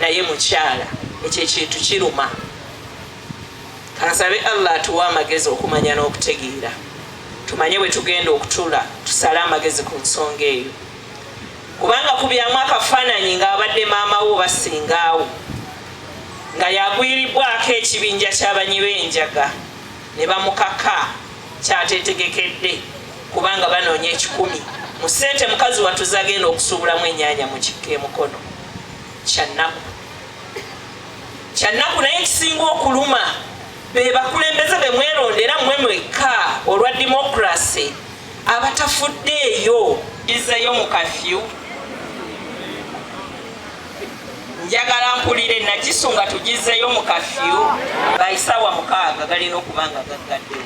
naye mukyala ekyo ekintu kiruma kansabe allah atuwa amagezi okumanya n'okutegeera tumanye bwe tugenda okutula tusale amagezi ku nsonga eyo kubanga kubyamu akafaananyi ng'abadde maama wo basingaawo nga yagwiribwako ekibinja kyabanyi b'enjaga ne bamukaka kyatetegekedde kubanga banoonya ekikumi mu ssente mukazi watuzagenda okusuubulamu ennyanya mu kikka emukono kyannaku kyannaku naye ekisinga okuluma be bakulembeze be mwerondera mwe mwekka olwa demokrasi abatafuddeeyo dizeyo mu kafyu njagala mpulire nakisunga tugizeyo mu kafyu bayisawa mukaaga galina okuba nga gaggadde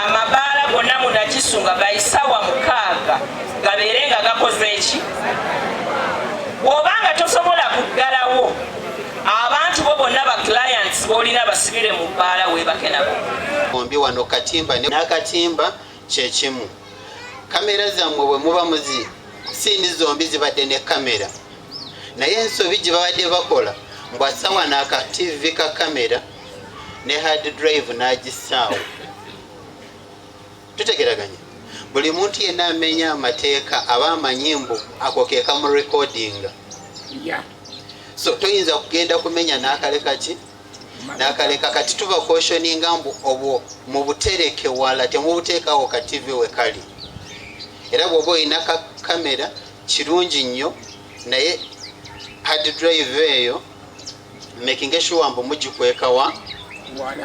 amabaala gonna munakisu nga gaisawa mukaaga gabeere nga gakoze eki bwobanga tosobola kuggalawo abantu bo bonna ba clients bolina basibire mu bbaala webake nabo ombi wano katimba nakatimba Kyekimu kamera zammwe bwe muba muzi siindi zombi zibadde ne kamera naye ensobi gye babadde bakola mbwasawa naaka tv ka kamera ne hard drive n'agisaawo tutegeraganya buli muntu yenna amenya amateeka aba amanyi mbu ako keeka mu recordinga so toyinza kugenda kumenya n'akale kaki nakaleka kati tuba koshoninga mbu obwo mubutereke wala temubuteekawo ka tv wekali era bwoba olina ka kamera kirungi nnyo naye hard drive eyo makinge shuwa mbu mugikwekawa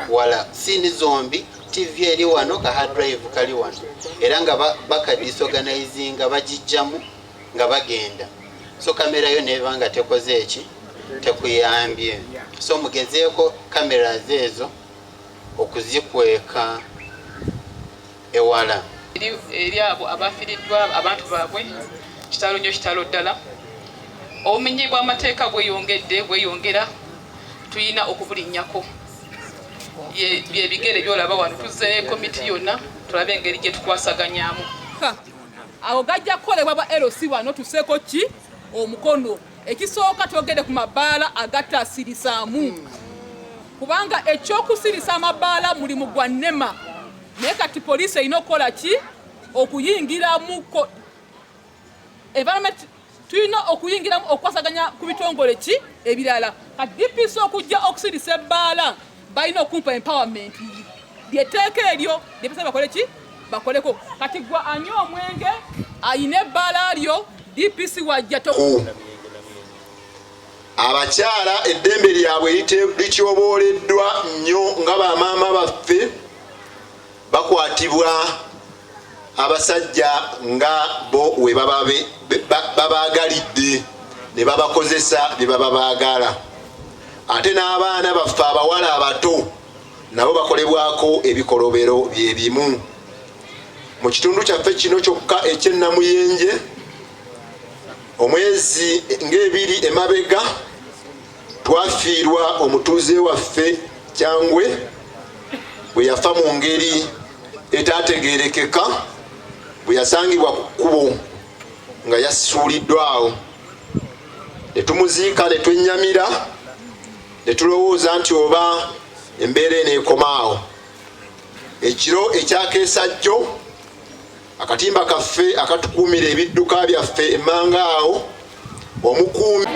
wala sindi zombi tv eri wano ka hard drive kali wano era nga bakadisorganizinga bagijjamu nga bagenda so kamera yo neba nga tekoze eki tekuyambye so mugezeeko kamera zeezo okuzikweka ewala eri abo abafiriddwa abantu baabwe kitalo nyo kitalo ddala obumenyi bw'amateeka bweyongedde bweyongera tulina okubulinnyako byebigere byolaba wano tuzeeyo komiti yonna tulabe engeri gyetukwasaganyamu awo gajja kukolebwa bwa LC wano tuseeko ki omukono ekisooka twogede ku mabaala agataasirisaamu kubanga ekyokusirisa amabaala mulimu gwa nema naye kati poliisi erina okukola ki okuyingiramuko environment tulina okuyingiramu okukwasaganya ku bitongole ki ebirala ka dpc okujja okusirisa ebbaala balina okumpa empowerment lyeteeka eryo lyepesa bakole ki bakoleko kati gwa anywa omwenge ayina ebbaala lyo dpc wajja abakyala eddembe lyabwe lityobooleddwa nnyo nga bamaama baffe bakwatibwa abasajja nga bo we babaagalidde ne babakozesa bye baba baagala ate n'abaana baffe abawala abato nabo bakolebwako ebikolobero bye bimu mu kitundu kyaffe kino kyokka ekyennamuyenje omwezi ng'ebiri emabega Twafiirwa omutuuze waffe Kyangwe bwe yafa mu ngeri etaategeerekeka bwe yasangibwa ku kkubo nga yasuuliddwa awo ne tumuziika ne twennyamira ne tulowooza nti oba embeera eno ekomaawo ekiro ekyakeesa jjo akatimba kaffe akatukuumira ebidduka byaffe emmanga awo omukuumi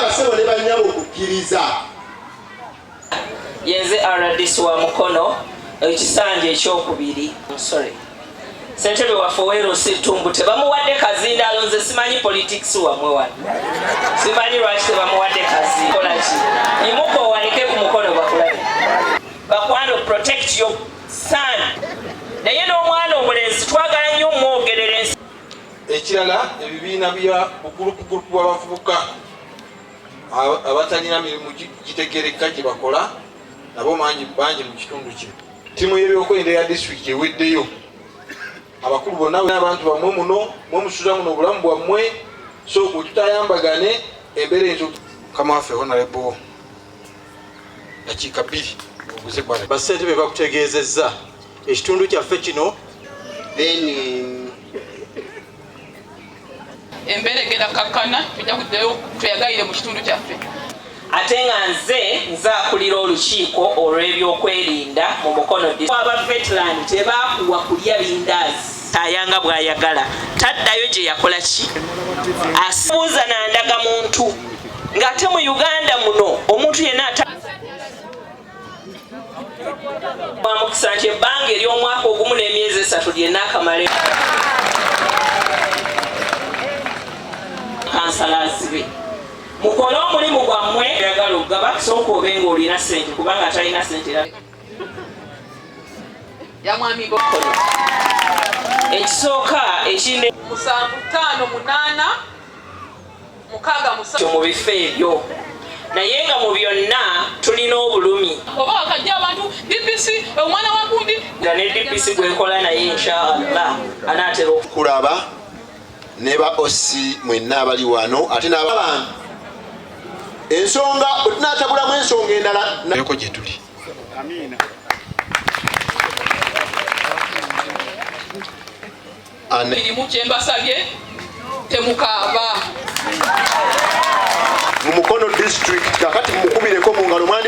basebo ne banyabo okukkiriza yenze rdc wa mukono ekisanja ekyokubiri sorry sentebe waffe weerosittumbu tebamuwadde kazinda alonze simanyi politics wamwe wano simanyi lwaki tebamuwadde kazinda kolaki imuko owanike ku mukono bakulabe bakwano protect your saani naye n'omwana omulenzi twagala nnyo omwogerera ensi ekirala ebibiina bya bugulupugulupu bw'abavubuka abatalina mirimu gitegerekka gye bakola nabo mangi bangi mu kitundu kino ttiimu y'ebyokwerinda ya disitulikiti eweddeyo abakulu bonna abantu bamwe muno mwe musuza muno obulamu bwammwe so wetutayambagane embeera enzo kamwaffe honalebo dakiika bbiri oguze kwana bassente be bakutegeezezza ekitundu kyaffe kino then um, embeera egenda kakkana tujja kuddayo tweyagalire mu kitundu kyaffe ate nga nze nzakulira olukiiko olw'ebyokwerinda mu mukono aba vetland tebakuwa kulya bindaazi ayanga bwayagala taddayo gye yakola ki asibuuza nandaga muntu ng'ate mu uganda muno omuntu yenna ata bamukisa nti ebbanga ery'omwaka ogumu n'emyezi esatu lyenna akamale kansalazibe mukole omulimu gwammwe yagala okugaba kusooka obe nga olina sente kubanga atalina sente yamwami bokolo ekisooka ekinde musanvu ttaano munaana mu bifo ebyo naye nga mu byonna tulina obulumi oba wakajja abantu dpc omwana wagundi nga ne dpc gwekola naye inshallah anaatera okulaba ne ba osi mwenna abali wano ate n'abantu ensonga bwe tunaatabulamu ensonga endala nayoko gye tuli mirimu kyembasabye temukaaba mu mukono district kakati mukubireko mungalo